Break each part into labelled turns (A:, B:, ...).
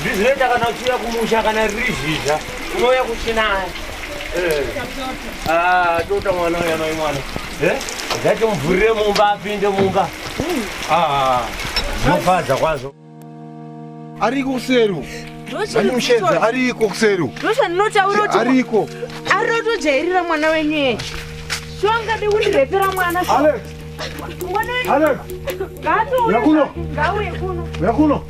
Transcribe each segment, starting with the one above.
A: Ndizinoita kana uchiuya kumusha kana riri zhizha unouya kuchinaya. Eh. Ah, tota mwana uya mai mwana. Eh? Zvacho mvurire mumba apinde mumba. Ah. Mofadza kwazvo. Ariko kuseri. Ndinoshedza ariko kuseri. Ndosha ndinotaura kuti ariko. Arinotojairira mwana wenyu yeye. Shonga de kundirepera mwana. Alex. Mwana wenyu. Alex. Ngaato. Yakuno. Ngauye kuno. Yakuno.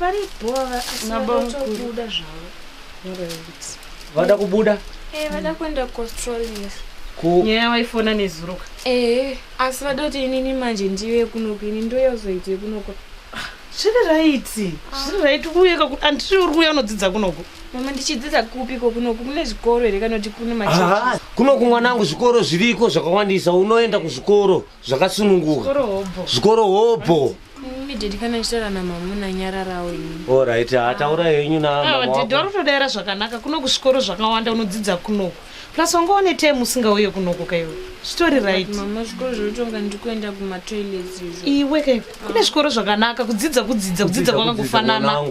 A: vari bhova asi vanotobuda zvavo vada kubuda e vada kuenda kuaustralia nyaya waifona nezuruka ee asi vada kuti inini manje ndiyo yekunoku ini ndo yozoita yekunoku zviri raiti zviri raiti uye kakuti andiri uri kuya unodzidza kunoku mama ndichidzidza kupi ko kunoku kune zvikoro here kana kuti kune macha kunoku mwanangu zvikoro zviriko zvakawandisa unoenda kuzvikoro zvakasununguka zvikoro hobho Immediately kana chitaura na mamuna nyararawo ini. All right, hataura ah. henyu na ah, mama. Ah, didi wari kutodaira zvakanaka kuno kuzvikoro zvakawanda unodzidza kunoko. Plus wanga une time usingauye kunoko kaiwe. Story right. Mama zvikoro zvotonga ndikuenda kuma toilets izvo. Iwe kai kune zvikoro zvakanaka kudzidza kudzidza kudzidza kwakangofanana.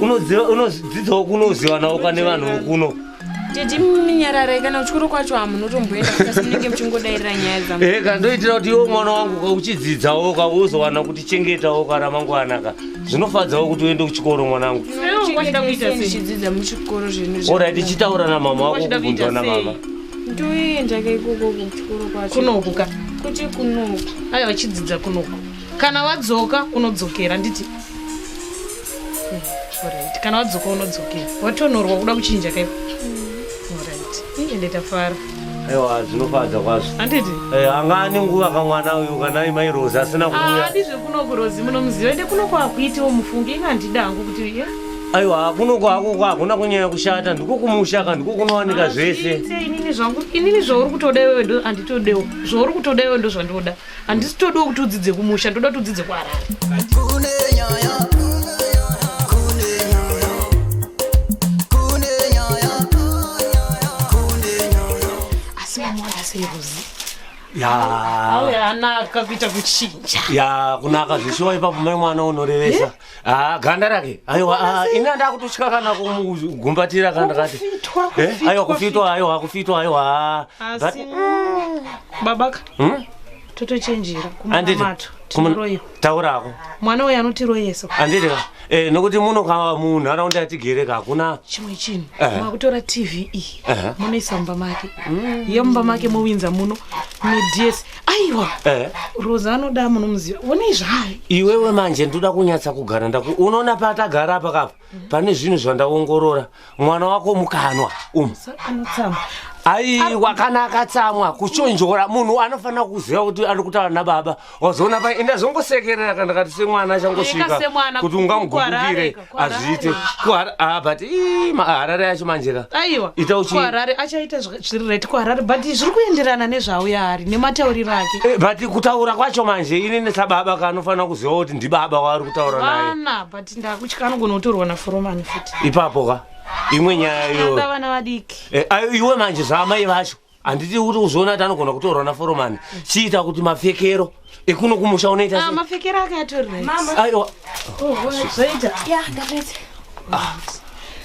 A: unoziva unodzidzawo kuno uzivanawo kane vanhu vokuno titi minyararai kana uchikoro kwacho hamunotomboenda kasi munenge muchingodairira nyaya dzam ehe ka ndoitira kuti iwo mwana wangu ka uchidzidzawo ka uzowana kuti chengetawo ka ramangwana ka zvinofadzawo kuti uende kuchikoro mwanangu Wachida kuita sei? ndichidzidza muchikoro zvinhu orai tichitaura namama wako Wachida kuita kubvunzwa namama sei? ndoenda kaikoko kuchikoro kwacho kunoku ka kuti kunoku aya vachidzidza kunoku kana wadzoka unodzokera nditi orit kana wadzoka unodzokera watonorwa kuda kuchinja kaipo mm. orit iye nditafara aiwa zvinofadza kwazvo anditi eh, anga ane nguva kamwana uyu kana imai rozi asina ah, kuuya adi zvekuno kurozi munomuziva ende kuno kwakuitiwo mufunge inga handida hangu kuti iye aiwa kuno kwakoko hakuna kunyanya kushata ndiko kumusha ka ndiko kunowanika ah, zvese inini zvangu inini zvauri kutoda iwewe ndo anditodewo zvauri kutoda iwewe ndo zvandoda handisi todawo kuti udzidze kumusha ndoda kuti udzidze kuharare asi mamwana seiruzi ya auya anaka kuita kuchinja ya kunaka zveshuwa ipapo mai mwana unorevesa Ah, ganda rake aiwa ah, ini andaa kutotya kana kumugumbatira kana ndakati Eh, aiwa kufitwa aiwa kufitwa aiwa ah. But- asi mm, babaka Hmm? totochenjera Anditi, kumunamato kumun- tinoiwa taurako mwana uyu anotiroyesa anditi ka eh, nokuti muno ka munharaunda yatigere ka hakuna chimwe chinhu Ehe. makutora tv iyi Ehe. munoisa mumba make iyo mumba make mowinza muno midhiesi aiwa Eh. roza anoda amunomuziva onei zvaari iwewe manje ndoda kunyatsa kugara ndaku unoona patagara apa kapa pane zvinhu zvandaongorora mwana wako mukanwa umu anotsamwa aiwa kana akatsamwa kuchonjora munhu anofanira kuziva kuti ari kutaura nababa wazoona pa enda zvongosekerera kana kati semwana achangosvika Eka semwana, kuti ungamugugukire kukukwara, hazviite kuhara ah, but ii, ma- harare yacho manje ka aiwa Ita uchi- kuharare achaita zv- zviri right kuharare but zviri kuenderana nezvauya hari nematauriro ake Eh, but kutaura kwacho manje ini nesababa kanofanira kuziva kuti ndibaba waari kutaura naye vana but ndakutya anogona kutorwa naforomani futi ipapo ka imwe nyaya iyoyo ndavana vadiki Eh, ayo iwe manje zvaamai vacho handiti uri kuzviona kuti anogona kutorwa naforomani chiita kuti mapfekero ekuno kumusha unoita ah, mapfekero ake atoriaiwa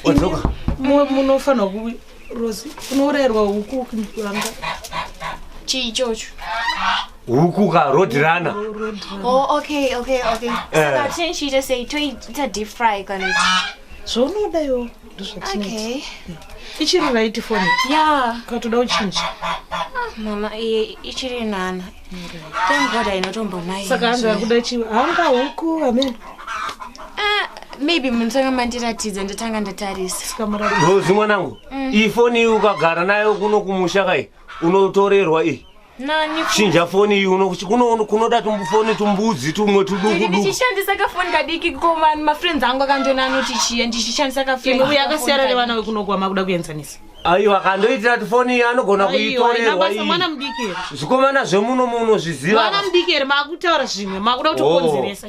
A: wadzoka munofanirwa ku rosi unourayirwa huku kanga chii ichocho huku ka rodirana oh, okay okay okay eh. saka tinchiita sei toita deep fry kana zvaunoda iwo okay ichiri right phone ya ukatoda uchinja mama iye ichiri nana thank god ainotombo naye saka anga akuda chiva hanga huku amen Ah, maybe munotanga mandiratidza ndatanga ndatarisa Rozi mwanangu, ifoni iyi ukagara nayo kuno kumusha kai, unotorerwa iyi Nani? chinja foni iyi uno- kuno- kunoda tumufoni tumbudzi tumwe tuduku duku ndichishandisa kafoni kadiki ko vanhu mafriends angu akandiona anoti chiya ndichishandisa kafoni uye akasiyana nevana vekunogwa makuda kuenzanisa aiwa kandoitira tifoni iyi anogona kuitorerwa basa iyi mwana mudiki here zvikomana zvemuno muno zviziva mwana mudiki here makutaura zvimwe makuda kuti Oh. ukonzeresa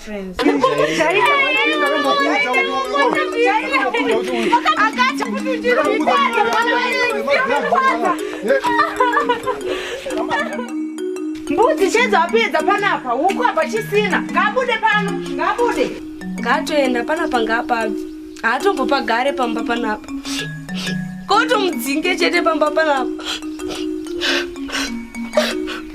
A: friends. Mbudzi chedza wapedza panapa huku apa chisina ngabude pano ngabude ngaatoenda panapa ngaapabve haatombopagare pamba panapa kotomudzinge chete pamba panapa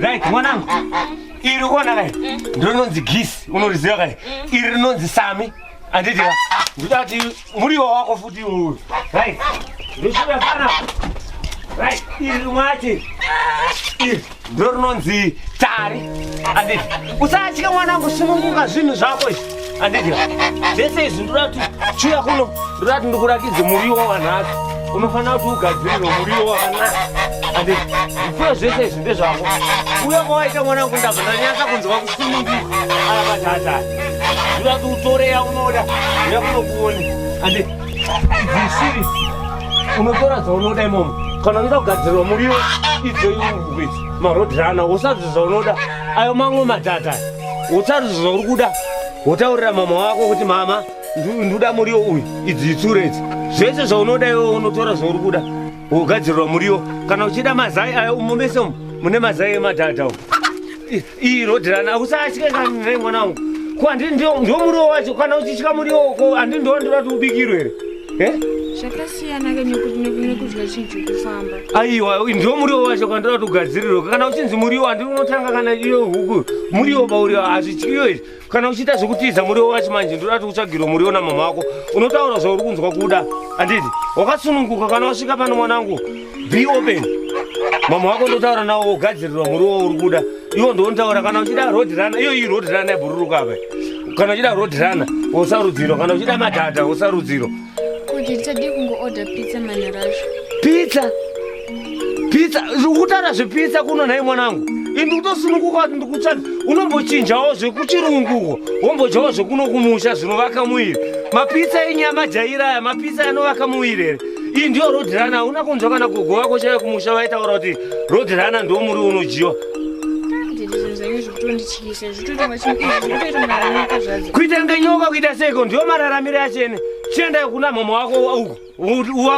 A: right mwanangu iri kuona kai ndiro rinonzi gisi unoriziva kai iri rinonzi sami anditi ka ndikuda kuti muriwo wako futi iwoyo right ndosvira pana right iri rimwache iri ndo rinonzi tari anditi usatye mwana wangu sununguka zvinhu zvako izvi anditi zvese izvi ndoda kuti chiuya kuno ndoda kuti ndikurakidze muriwo wanhasi unofanira kuti ugadzirire muriwo wakanaka anditi zvifuyo zvese izvi ndezvako uye kwawaita mwana wangu ndabva ndanyasa kunzwa kusununguka alabatata Zvura kutore yaunoda yakunokuone ande zvisiri unotora dzaunoda imomo kana unoda kugadzirwa muriwo idzo iwe marodhirana usazvi zvaunoda ayo mamwe madhata usazvi zvauri kuda wotaurira mama wako kuti mama nduda muriwo uyu idzi itsure idzi zvese zvaunoda iwe unotora zvauri kuda wogadzirirwa muriwo kana uchida mazai ayo umomese mune mazai emadhata u Iyi road runner usatye kanzve mwana wangu. Ko andi ndio ndio muriwo wacho kana uchitya muriwo ko andi ndio ndinoda kuti ubikirwe here. Eh? Zvakasiyana ke nekuti nekudya chinhu chekufamba. Aiwa ndio muriwo wacho kana ndoda kuti ugadzirirwe. Kana uchinzi muriwo andi unotanga kana iyo huku. Muriwo pauriwo hazvityiyo izvi. kana uchiita zvekutiza muriwo wacho manje ndoda kuti utsvagirwe muriwo namama wako unotaura zvauri kunzwa kuda handiti wakasununguka kana wasvika pano mwanangu be open mama wako ndotaura nawo wogadzirirwa muriwo wauri kuda iwo ndontaura kana uchida road runner iyo iyi road runner yabhururuka apa kana uchida road runner wosarudziro kana uchida madhadha wosarudziro Kuti tadi kungoorder pizza manhero acho. Pizza? Pizza? Zvokutaura zvepizza kuno nhai mwanangu? Ini ndikutosununguka kuti ndikutsvaka unombochinjawo zvekuchirunguko wombodyawo zvekuno kumusha zvinovaka muviri. Mapizza enyama jaira aya mapizza anovaka muviri here? Iyi ndiyo road runner hauna kunzwa kana gogo vako chaiva kumusha vaitaura kuti road runner ndiwo muri unodyiwa. Ndiri zvinhu zvenyu zvekutondityisa. kuita kunge nyoka kuita seiko ndiwo mararamiro yachene chienda kuna mama wako uko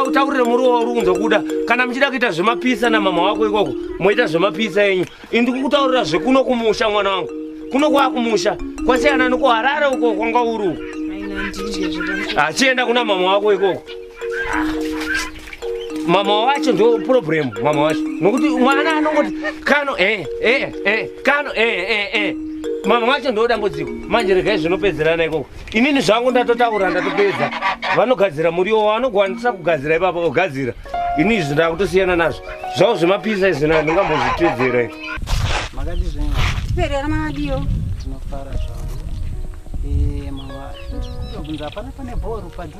A: utaurire muruwa wauri kunzwa kuda kana muchida kuita zvemapisa namama wako ikoko moita zvemapisa enyu indi kukutaurira zvekuno kumusha mwana wangu kuno kwakumusha kwasiyana nekuharare uko kwanga uri uko achienda kuna mama wako ikoko mama wacho ndo problem mama wacho nokuti mwana anongoti kano eh, eh, eh, kano eh, eh, eh. mama wacho ndo dambudziko manje regai zvinopedzerana ikoko inini zvangu ndatotaura ndatopedza vanogadzira muriwo wanogwanisa kugadzira ipapa ogadzira ini izvi ndakutosiyana nazvo zvavo zvemapisa izvi na ndingambozvitedzera makadi zvenyu perera madiyo tinofara zvavo eh, mama ndikubvunza hapana pane bhoru padhu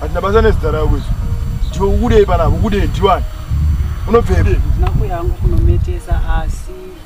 A: hatina basa nezita rako izvo ndiwe ukudei panapa ukudei ndiwani unobvepi ndina kuyangu kunometesa asi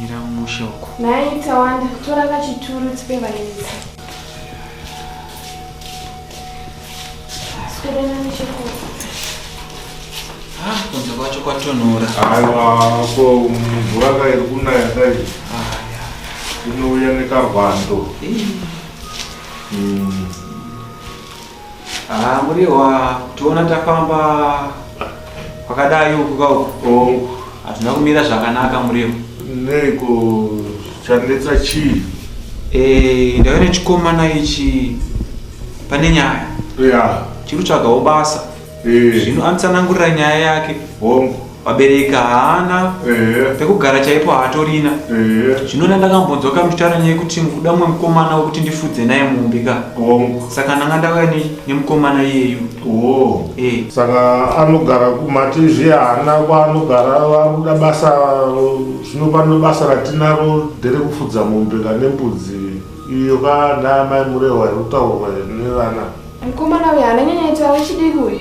A: mira musha uko nhai tawanda tora kachituru tipe vaenzi swerena nechekuru ah, kunze kwacho kwatonhora aiwa ko mvura kairi kunaya dai ah, inouya nekarwando mm. Ah, muriwa kutiona tafamba kwakadai uku kauku hazvina kumira zvakanaka muriwa neiko chanetsa chii Eh, ndaive nechikomana ichi pane nyaya ya chiri tsvagawo basa Eh. zvino anotsanangurira nyaya yake hongu vabereki haana ehe pekugara chaipo haatorina ehe zvino ndandakambonzwa kamuchitaura nyaya yekuti mukuda mumwe mukomana wekuti ndifudze naye mumbi ka hongu saka ndanga ndauya ne- nemukomana iyeyu oh Eh, saka anogara kumatizvi haana kwaanogara vakuda basa zvino pano basa ratinaro nderekufudza mombe kane mbudzi Iyo ka ndaa mai Murehwa iri kutaurwa nevana. Mukomana uyu haana nyanya ita vechidiki uyu.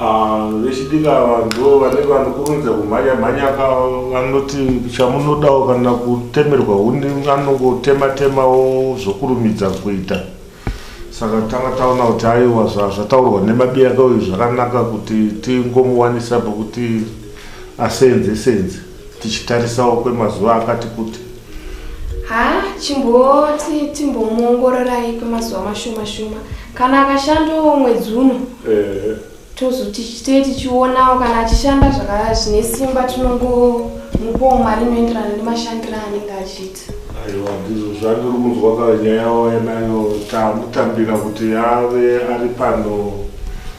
A: Ah, vechidiki ava ndo vanenge vanokurumidza kumhanya mhanya ka vanoti chamunodawo kana kutemerwa huni anongotema temawo zvokurumidza kuita. Saka tanga taona kuti aiwa zvataurwa nemabiya ka uyu zvakanaka kuti tingomuwanisa pokuti asenze senze. tichitarisawo kwemazuva akati kuti haa chimboti timbomuongororai kwemazuva mashoma shoma kana akashandawo mwedzi uno eh. tozoti chitee tichionawo kana achishanda zvakaya zvine simba tinongomupawo mari inoenderana nemashandiro anenge achiita aiwa ndizvo zvandiri kunzwa kanyaya wainayo tamutambira kuti ave ari pano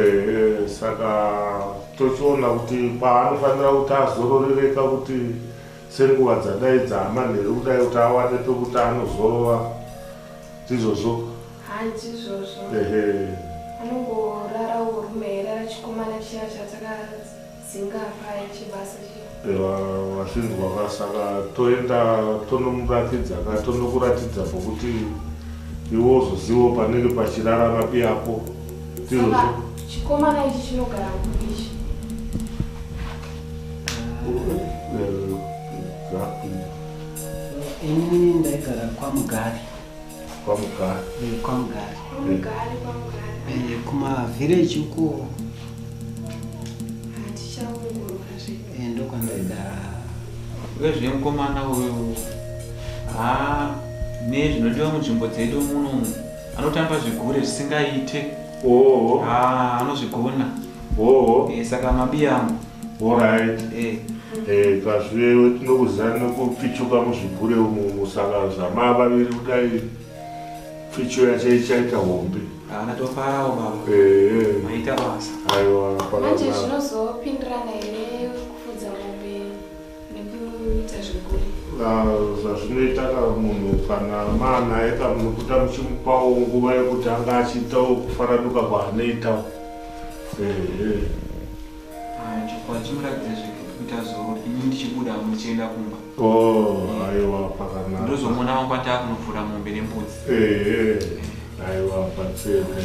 A: ehe saka tochiona kuti paanofanira kuti azororereka kuti senguva dzadai dzaamanheru kudai kuti awane pekuti anozorova ndizvozvo ehe anongorara urume here achikomana chiya chataka dzingapai chibasa vasinzwa ka saka toenda tonomuratidza ka tonokuratidza pokuti iwe uzozivawo panenge pachirara vapi yako chikomana ichi chinogara kuichi ini ndaigara kwamugari kwamugari eh, kwamugari eh, eh, kumavhireji uko ndokwandaigara vezvemukomana uyo ha nezvinodiwa munzvimbo dzedu muno anotamba zvigure zvisingaite oh. anozvigona Hoo. Eh, saka mabi yangu. Alright. Eh. Eh, kazviwe tinokuzana nokupichuka muzvigure umu musaka zvamaa vaviri kudai pficho yacho ichaita hombe. Ah, ndatofarawo baba. Eh. eh. Maita basa. Aiwa. Manje zvinozopindirana here? nekuita zvekuri zvazvinoita ka munhu kana maanaye ka munokuta muchimupawo nguva yekuti anga achiitawo kufaranuka kwaanoitawo ehe kwachimuratidza zvekuita zoro ini ndichibuda muchienda kumba oh, aiwa pakanaka ndozomona wangu ataa kunovhura mombe nembudzi ehe Aiwa patseme.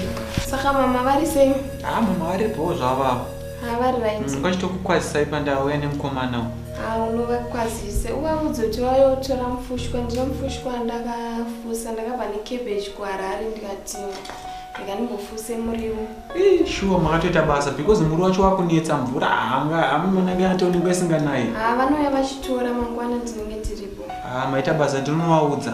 A: Saka mama vari sei? Ah mama vari bho zvavavo. Ah vari right. Mm, Kwachitokukwazisai pandauya nemukomana uyu. Ah unovakwazise uvaudze kuti vauya kutora mufushwa ndino mufushwa ndakafusa ndakabva necabbage kuharare ndikati ndikandimbofusa muriwo. Eh shuwa makatoita basa because muri wacho wakunetsa mvura hanga hamumanange yatoonekwa isinganayi. Ah vanouya vachitora mangwana tinenge tiripo. Ah maita basa ndinovaudza.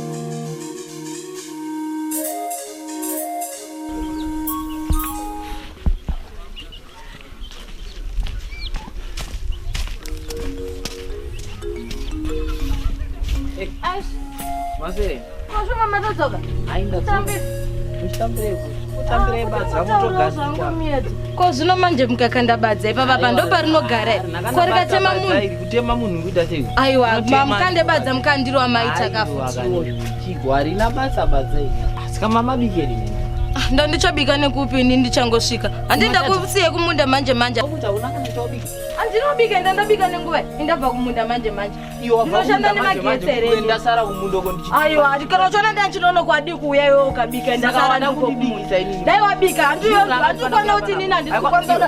A: ko zvino manje mukakanda badza ipapa pandoparinogara ko rikatema munhu kutema munhu kuita sei aiwa mamukande badza mukandiro amaita kafuchigo harina basa badza asika mama bikeri ah, ndandichabika nekupi ini ndichangosvika handienda kusiye kumunda manje manje andinobika enda ndabika nenguva indabva kumunda manje manje ndinoshanda nemagetsereaiwa kana uchiona ndandinono kwadi kuuya iwe ukabika ndakawandikudai wabika handikwanira kuti nini handikukonzaa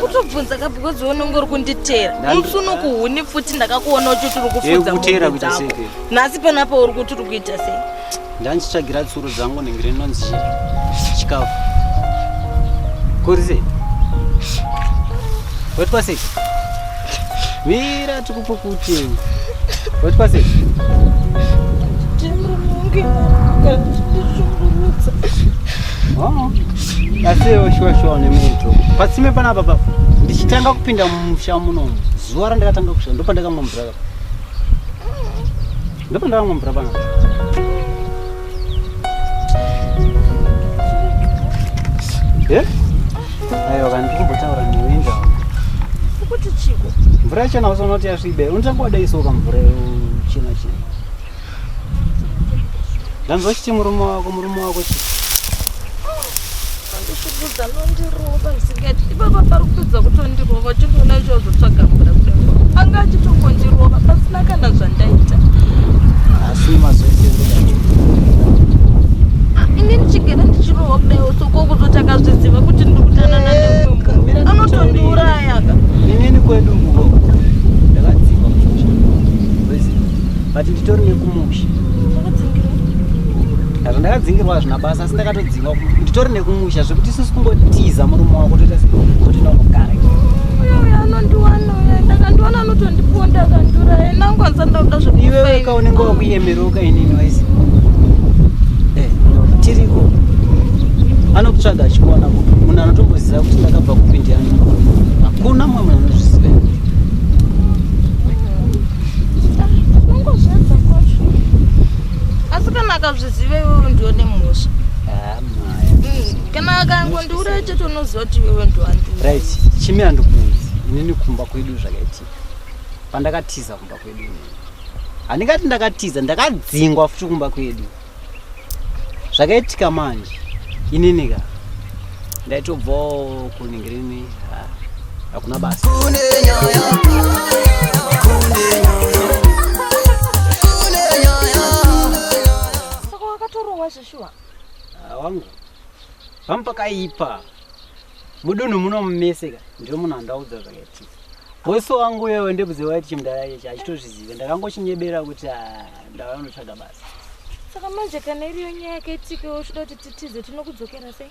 A: kutobvunza ka because unonge uri kunditera musi unokuhuni pfuti ndakakuona uti tiri kufudza nhasi panapa uri kuti uri kuita sei ndandichitsvagira tsuro dzangu nenge rinonzi chikafu kuri sei wetwa sei mira Pokuteni. What was it? Oh. Asiwo shuwa shuwa nemoto. Pasime pana baba. Ndichitanga kupinda mumusha muno. Zuwa randakatanga kushanda ndopandakamwa mvura. Ndipo ndavamwe mvura pano. Eh? Ayo vanhu kumbotaura newe ndawo. Ukuti chiko. Mvura chena usonoti yasvibe. Unotanga wadai soka mvura chena chena. Ndanzwa chiti murume wako murume wako chii? Andishubudza anondirova zvisingaiti ipapa pari kutodza kutondirova chindoona ichozotsvaga mvura kudai anga achitongondirova pasina kana zvandaita asi mazoiini ndichigara ndichirova kudaiwo soko kuzoti akazviziva kuti ndiri kutanana neanotondiurayaka inini kwedu nguvo ndakadzima but nditori nekumusha ndakadzingirwa hazvina basa ndakatodzingwa nditori nekumusha zvekuti sisi kungotiza murume wako toita kuti nonogara anondiwana ndakandiwana anotondiponda akandura enangwanza ndakuda zveiwewe ka unenge wakuyemeroka inini waisi eh, tiriko anokutsvaga achikuona kuti munhu anotomboziva kuti ndakabva kupindiana hakuna mumwe munhu anozviziva zvizive iwewe ndiwe nemhosva hmm, kana akangondiuraya chete unoziva kuti iwewe ndiwandiurit chimi andikunzi inini kumba kwedu zvakaitika pandakatiza kumba kwedu inini handingati ndakatiza ndakadzingwa futi kumba kwedu zvakaitika manje inini ka ndaitobvawo kuningirimi hakuna basa saka wakatorohwa zveshuwa Ah, wangu pamwe pakaipa mudunhu muno mumeseka ndiro munhu andaudza zvakaitika wese wangu iwewe ndebudze waiti chimudhara ichi achitozvizive ndakangochinyebera kuti ah, ndava notsvaga basa saka manje kana iriyo nyaya yakaitika iwe uchida kuti titize tinokudzokera sei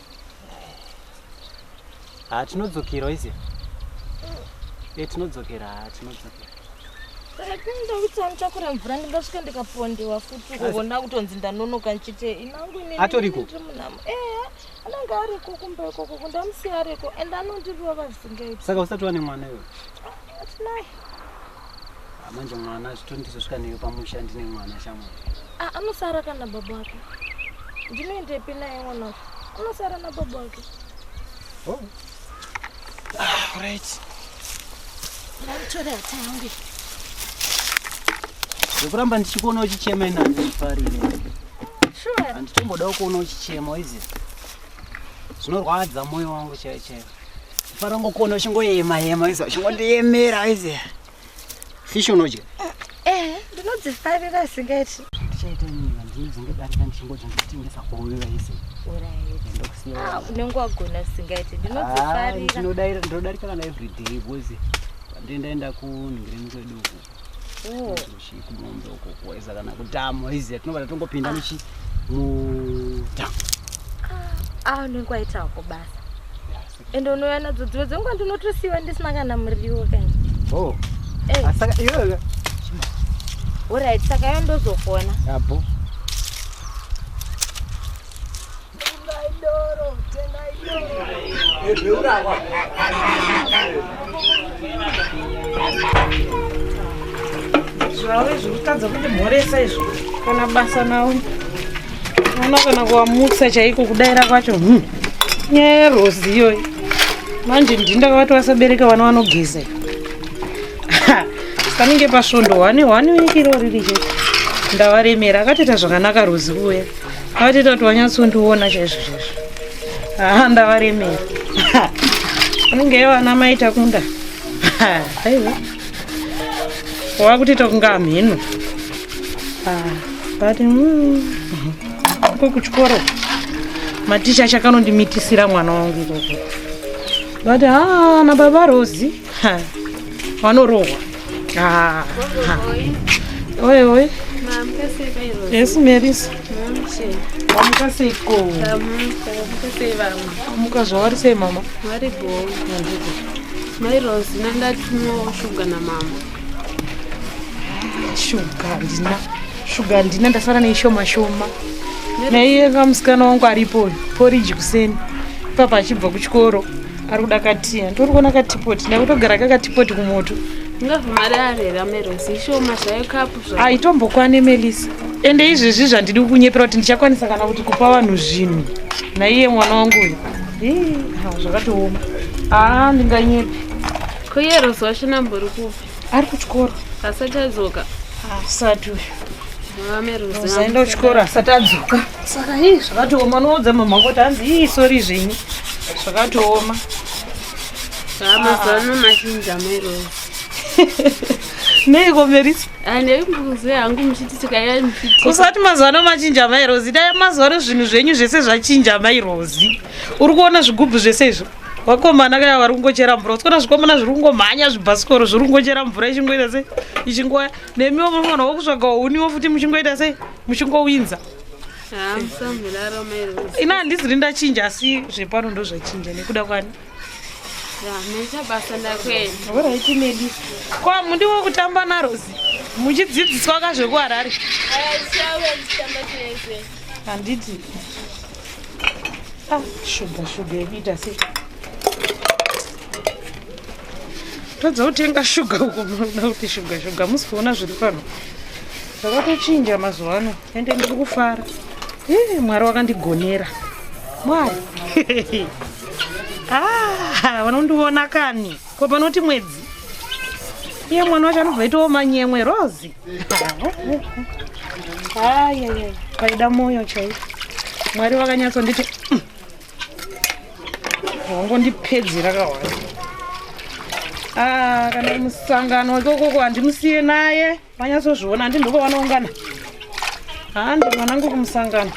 A: haa tinodzokera oiziva e tinodzokera haa tinodzokera saka tinoda kuti anditakure mvura ndingasvika ndikapondewa futi kuona kutonzi ndanonoka ndichite inangu iniatoriko eya anenge ariko kumba ikoko kundamusiya ariko and anondirova zvisingaiti saka usati wane mwana iwe atinaye Ah, manje mwana zvitondizosvika neyo pamusha ndine mwana shamwari Ah, anosara kana baba wake ndinoendepi naye mwana wacho anosara nababa wake oh. ah, right ndanditore hata yangu zvekuramba ndichikuona uchichema ina handifarire sure handitomboda ukuona uchichema izi zvinorwadza moyo wangu chaiwo chaiwo Farongokona uchingoyema yema izo uchingondiyemera izi. Fish unodya? Eh, ndinodzifarira asingati. Ndichaita nini ndinodzinge darika ndichingodya ndichitengesa kuuya izi. Ah, unenge wagona asingati. Ndinodzifarira. Ah, ndinodarika kana everyday boys. Ndindaenda kunhingireni kwedu uku. Oh. Kudombe uko kuweza kana kudhamu iziya tinobva tatongopinda ah. nechi mudhamu. Ah, ah unenge waita wako basa. Ende unouya nadzo dzimwe dzenguva ndinotosiiwa ndisina kana muriwo kani. Oh. Eh. Asaka ah, iyoyo. Alright, saka yandozofona. Yabo. zvave zviri kutadza kuti mhoresa izvo kana basa nawo ona kana kuwamutsa chaiko kudaira kwacho hmm. nyaya yerozi iyoyi manje ndini ndakavati vasabereka vana vanogeza panenge pasvondo hwani hwani wekiro riri chete ndavaremera akatoita zvakanaka rozi kuuya Vati tati wanyatsondiona chaizvo chaizvo. Ah, ndavaremera. Unenge yevana mai takunda. Aiwa. Wakuti takunga hamheno. Ah, but mm, ko kuchikoro maticha chakanondimitisira mwana wangu ikoko. But ah, na baba Rosie vanorohwa oye oye yes marisa wamuka seiko amuka zvavari sei mama vari bo mai rose nandatumwawo shuga namama shuga ndina shuga ndina ndasara neishoma shoma naiye kamusikana wangu aripo poriji kuseni ipapa achibva kuchikoro ari kuda katiya nditori kuona katipoti ndakutogara kakatipoti kumoto aitombokwane melisa ende izvezvi zvandidi kunyepera kuti ndichakwanisa kana kuti kupa vanhu zvinhu naiye mwana wangu uyu zvakatooma aa ah, ndinganyepi koyerozwa shinambori kupi ari kuchikoro asati adzoka asati uyu uzaenda kuchikoro asati adzoka saka ii zvakatooma unoudza mama kuti hanzi ii sori zvenyu zvakatooma amazano machinja mairozi neiko merisi anekuzi hangu muchiti tikaya muchiti usati mazano machinja mairozi dai mazano zvinhu zvenyu zvese zvachinja mairozi uri kuona zvigubhu zvese izvo vakomana kaya vari kungochera mvura usikona zvikomana zviri kungomhanya zvibhasikoro zviri kungochera mvura ichingoita sei ichingoya nemiwo munofanira wokutsvaga uniwo futi muchingoita sei muchingowinza ina handisi ri ndachinja asi zvepano ndo zvachinja nekuda kwani kwa mundiwo kutamba narosi muchidzidziswa ka zvekuharare handiti Ah, shuga shuga yekuita sei tadza kutenga shuga uko munoda kuti shuga shuga musi kuona zviri pano zvakatochinja mazuva ano ende ndiri kufara eh, mwari wakandigonera mwari ah, vanondiona kani ko panoti mwedzi iye mwana wacho anobva itawo manyemwe rozi ayaya paida mwoyo chaiyo mwari vakanyatsonditi mm. wangondipedzera kawai ah, kana musangano wake ukoko handimusiye naye manyatsozviona handi ndoko vanoungana handi vanangu kumusangano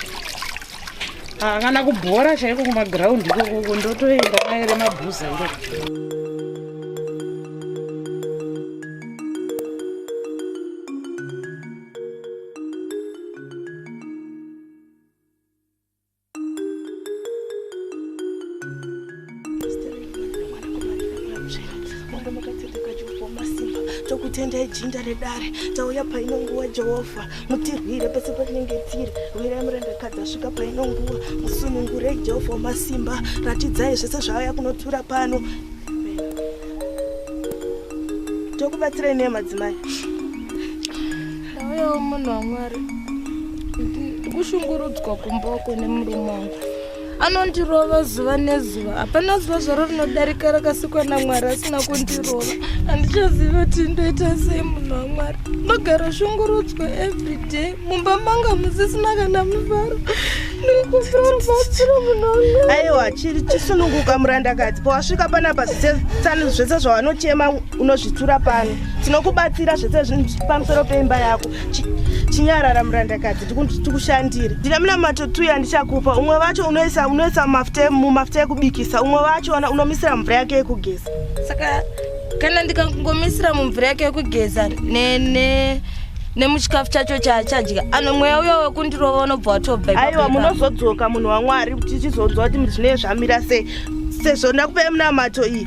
A: angana kubhora chaiko kumagiraundi ikokoko ndotoenda maere mabhuza ikoko tokutendai jinda redare tauya paino nguva jehovha mutirwire pese patinenge tiri rwirai murandakadzi asvika paino nguva musunungurei jehovha wamasimba ratidzai zvese zvaaya kunotura pano tokubatsirai nei madzimai ndauyawo munhu wamwari ndikushungurudzwa kumba uko nemurume wangu anondirova zuva nezuva hapana zuva zvaro rinodarika rakasikwa namwari asina kundirova handichazivi kuti ndoita sei munhu wamwari ndogara shungurudzwa everyday mumba manga musisina kana mufaro aiwa chiri chisununguka murandakadzi pawasvika panapa zvese zvawanochema unozvitura pano tinokubatsira zvese zvinhu zviri pamusoro peimba yako chinyarara murandakadzi tikushandire ndine munamato tu yandichakupa umwe vacho unoisa unoisa mafuta mumafuta ekubikisa umwe vacho ona unomisira mvura yake yekugeza saka kana ndikangomisira mumvura yake yekugeza ne, ne nemuchikafu chacho chaachadya ano mweya uyo wekundirova unobva watobva aiwa munozodzoka munhu wamwari tichizonzwa kuti zvinee zvamira sei sezvo ndakupai munamato iyi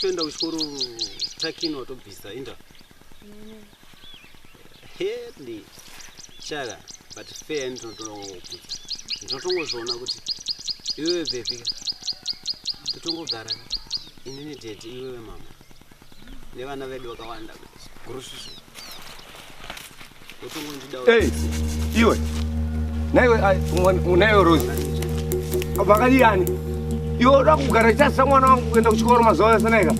A: kuenda kuchikoro takini watobvisa inda hedi chaka but fair ndi ndinotongokuti ndinotongozviona kuti iwewe bhebhika totongogara inini tete iwewe mama nevana vedu vakawanda kurususu Hey, iwe naiwe naiwe Rose vakadiyani iwe uda kugara chasa mwana wangu kuenda kuchikoro mazuva ese naika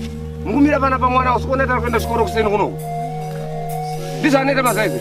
A: mukumira pana pamwana usikoneta kuenda kuchikoro kuseni kunoku ndizvanoita mazaizi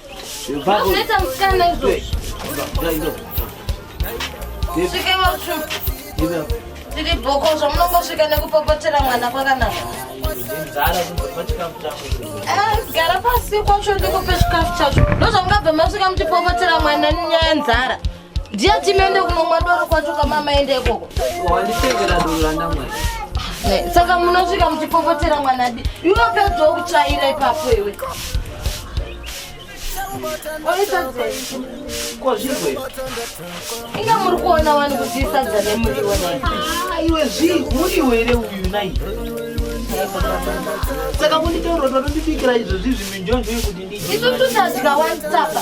A: tiri bhoko zvamunongosvika nekupopotera mwana kwakanaka eh, gara pasi kwacho ndikupe chikafu chacho ndozvamungabva masvika muchipopotera mwana nyaya nzara ndiye timende kunomwa doro kwacho kamama ende ikoko wanditengera doro randamwai eh, saka munosvika muchipopotera mwanadi iwe pedzawo kutsvaira ipapo iwe inga muri kuona wani kuti isadza nemuriwo ah, iwe zvii muriwo here uyu nai saka kunditoroda tondibikira izvozvi zviminjonjo yekuti ndiisu tutadya wansapa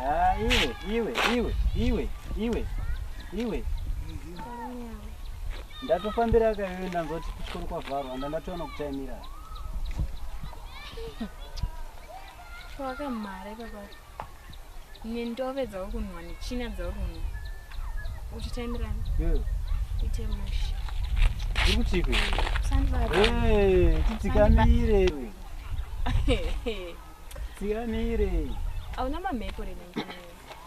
A: Ah, iwe, iwe, iwe, iwe, iwe, iwe. Ndatofambira akayoyo ndanzoti kuchikoro kwavharwa anda ndatoona kutaimira. Wakamhara ipapa. Nendove dzauri kunwa nechina dzauri kunwa. Uchitaimirana. Yo. Ite mushi. Uri kutipi? Sandibabe. Hey, titikamire. Siyanire. Hauna mamhepo here nengini.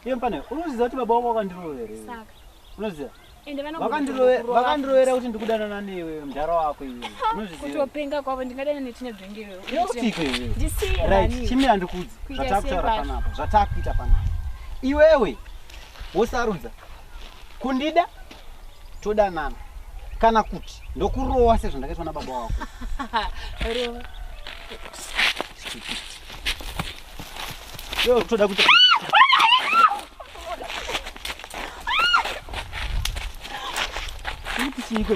A: Iye mpane, unoziva kuti baba wako wakandirovera. Saka. Unoziva? Ende vanokurovera. Vakandirovera kuti ndikudanana newe mdhara wako iwe. Unoziva? Kutopenga kwavo ndingadana nechine dvenge iwe. Yokutiko iwe. Ndisiye. Right, chimi andikudzi. Zvatakutora panapa. Zvatakuita panapa. Iwewe wosarudza kundida todanana kana kuti ndokurowa sezvandakaitwa nababa wako Yo, toda kuti Chico,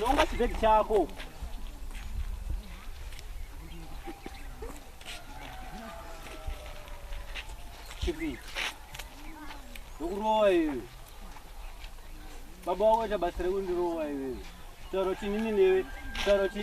A: Nonga chibhegi chako. Chibi. Nokurowa iwe. Baba wako ita basa rekundirowa iwe. Tauro chinini newe. Tauro chi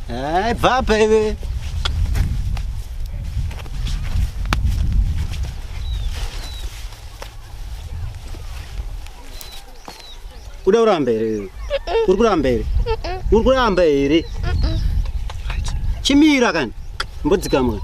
A: Hey, bva baby. Uda kuramba here iwe? Uri kuramba here? Uri kuramba here? Chimira kani. Mbodzikama kani.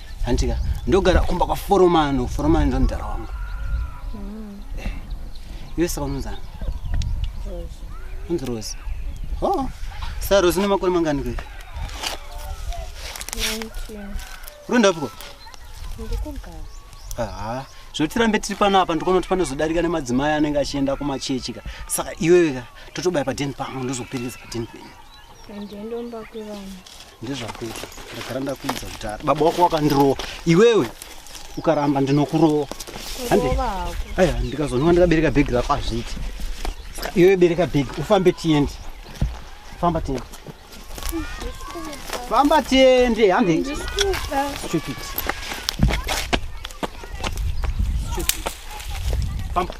A: hantika ndogara kumba kwaforomano foromano ndo mudhara wangu mm. eh, iwe saka unonzani unzi rosi o oh, sa rosi nemakore mangani kwe rundapiko haa zvotirambe tiri pano apa ndikuona kuti panozodarika nemadzimai anenge achienda kumachechi ka saka iweweka totobaya padeni pangu ndozoperekeza padeni penyu ndezvakuita ndagara ndakuudza kudhara baba wako wakandirowa iwewe ukaramba ndinokurowa hande aya ndikazonwa ndikabereka bhegi rako hazviiti iwewe bereka bhegi ufambe tiende famba tiende famba tiende hande stupid stupid famba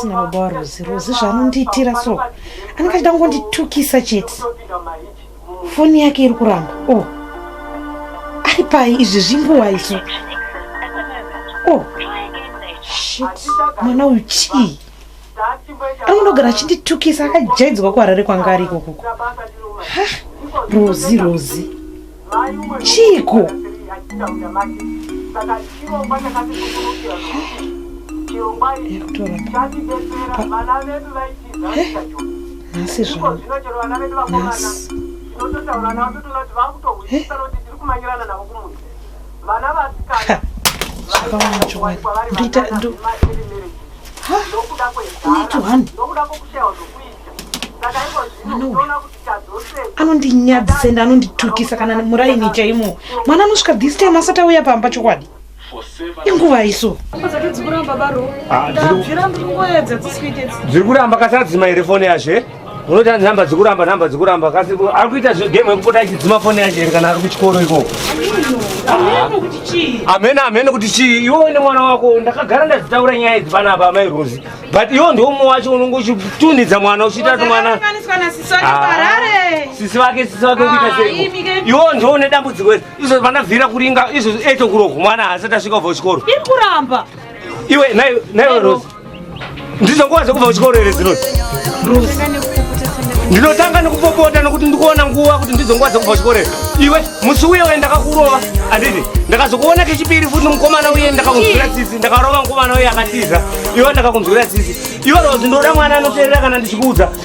A: asina baba warozi rozi zvaanondiitira so anenge achida kungonditukisa chete foni yake iri kuramba o oh. ari pai izvi zvinguwa iso o oh. shit mwana uyu chii anondogara achinditukisa akajaidzwa kuharare kwanga ari ikokoko rozi rozi chiiko nhasi zvakawanachowaita nokuda kwezara nokuda kwokushaiwa zvokuita saka iko zvino unoona kuti tadzosei anondinyadzisa ende anonditukisa kana muraini chaimo mwana anosvika this time asati auya pamba chokwadi inguva iso dziri kuramba kasadzima here foni yazve unoita nhamba dzikuramba nhamba dzikuramba kasi ari kuita zvegame yekupota achidzima foni yacho here kana ari kuchikoro ikoko hamene hamene kuti chii iwe uine mwana wako ndakagara ndazitaura nyaya idzi pana apa amai rozi but iwo ndiwo mumwe wacho unonge uchitunhidza mwana uchiita kuti mwana sisi vake sisi vake ukuita sei iwo ndiwo une dambudziko iri izvo pandabvira kuringa izvo eto kuroko mwana haasati asvika ubva kuchikoro iwe naiwe rozi Ndizo nguva dzekubva kuchikoro here dzinoti? Ndinotanga nekupopota nekuti ndikuona nguva kuti ndizo nguva dzekubva kuchikoro here. Iwe musi uye uye ndakakurova handiti? Ndakazokuona kechipiri futi mukomana uye ndakakunzwira tsitsi. Ndakarova mukomana uye akatiza. Iwe ndakakunzwira tsitsi. Iwe Rose ndoda mwana anoteerera kana ndichikuudza.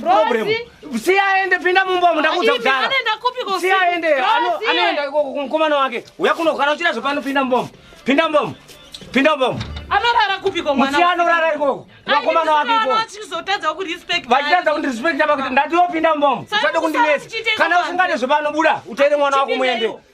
A: problem si aende pinda mumba mundakuudza kudhara si aende anoenda ikoko kumukomana wake uya kunogara uchida zvepano pinda mumba pinda mumba pinda mumba anorara kupiko mwana musi anorara ikoko vakomana wake ikoko vachizotadza kurespect vachitadza kundirespecta pakuti ndati yopinda mumba usade kundinesa kana usingade zvepano buda uteere mwana wako muende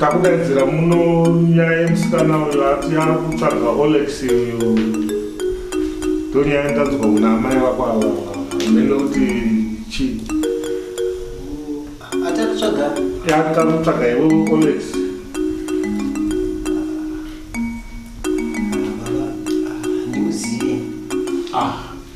A: takudaidzira muno nyaya yemusikana uyo ati ari kutsvaga olex uyo ndonyaya ndanzwa kuna amai vako ava mene kuti chii atakutsvaga yatakutsvaga iwe olex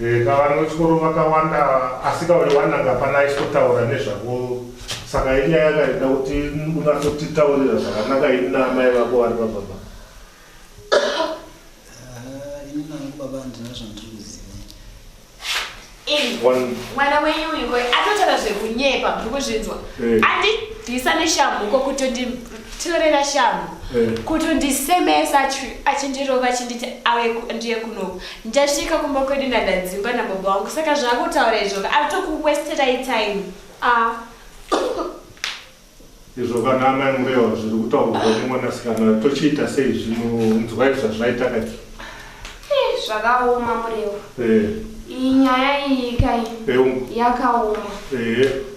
A: Eh, ka vana vechikoro vakawanda asi ka uri wananga hapana aisotaura nezvako saka inyaya yakaita kuti unatsotitaurira zvakanaka ini naamai vako vari pababa Ah, ini nangu baba handina zvandiri kuziva Ini, One- mwana wenyu uyu koi atotaura zvekunyepa muri kuzvinzwa Eh. andidhisa neshamhu ko kutoti tinorera shamhu eh. kutondisemesa achindirova achinditi awe ndiye kunoku ndasvika kumba kwedu ndandadzimba nababa wangu saka zvakutaura izvoka atokuwesterai time ah. izvo kana amai murewa zviri kutaurwa nemwanasikana tochiita sei zvinonzwai zvazvaita kati eh, zvakaoma murewa eh. iyi nyaya iyi kai yakaoma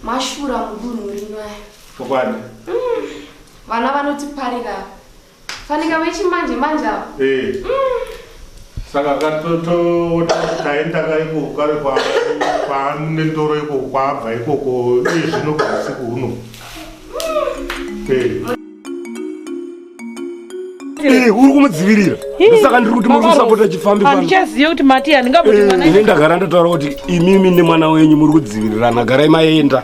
A: mashura mudunhu rino aya chokwadi mm. vana vanotiparira fanika vechimanje manje ava eh. mm. saka katotoona taenda kaiko kare kwaane ndoro iko kwabva ikoko iye zvino kwausiku huno mm. eh. Eh, uri kumudzivirira saka ndiri kuti muri kusapota chifambihandichaziva kuti mati handingaboti eh, mwana ini ndagara ndataura kuti imimi nemwana wenyu muri kudzivirirana garai maenda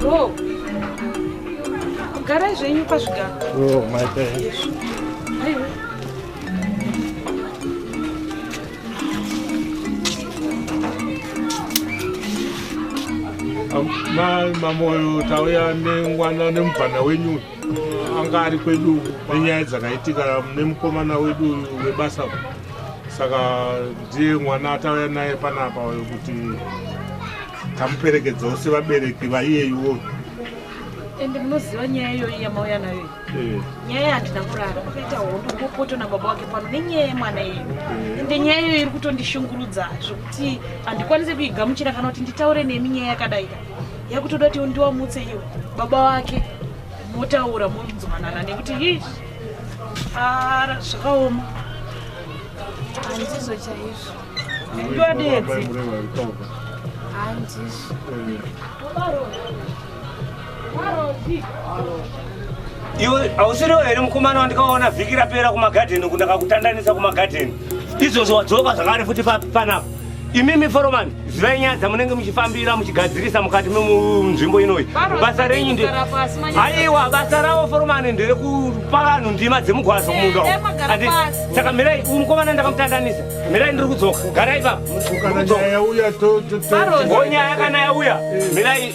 A: Bro, garai zvenyu pazvigaro. Oh, my thanks. Mamoyo tauya nengwana nemubvana wenyu. anga ari kwedu nenyaya dzakaitika mune mukomana wedu uyu webasa saka ndiye mwana atauya naye panapa uyo kuti tamuperekedzawo sevabereki vaiyeyuwo ende munoziva nyaya iyoyi yamauya nayo eh. nyaya yandina kurara kwakaita hondo ngopoto nababa wake pano nenyaya yemwana iyoyi eh. ende nyaya iyoyi iri kutondishungurudza zvekuti handikwanise kuigamuchira kana kuti nditaure nemi nyaya yakadai yakutoda kuti ndiwamutse iwe baba wake motaura monzwanana nekuti hi ara zvakaoma handizvo chaizvo ndiwadedzi handizvo iwe hausiriwo here mukomana wandikaona vhiki rapera kumagadheni kundakakutandanisa kumagadheni izvozvo wadzoka zvakare futi panapa imimi foromani zivai nyaya dzamunenge muchifambira muchigadzirisa mukati memunzvimbo inoyi basa renyu nde aiwa basa ravo foromani ndere kupa vanhu ndima dzemugwazo kumunda eh, eh, saka mirai mukomana ndakamutandanisa mirai ndiri kudzoka garai papo nyaya kana yauya mirai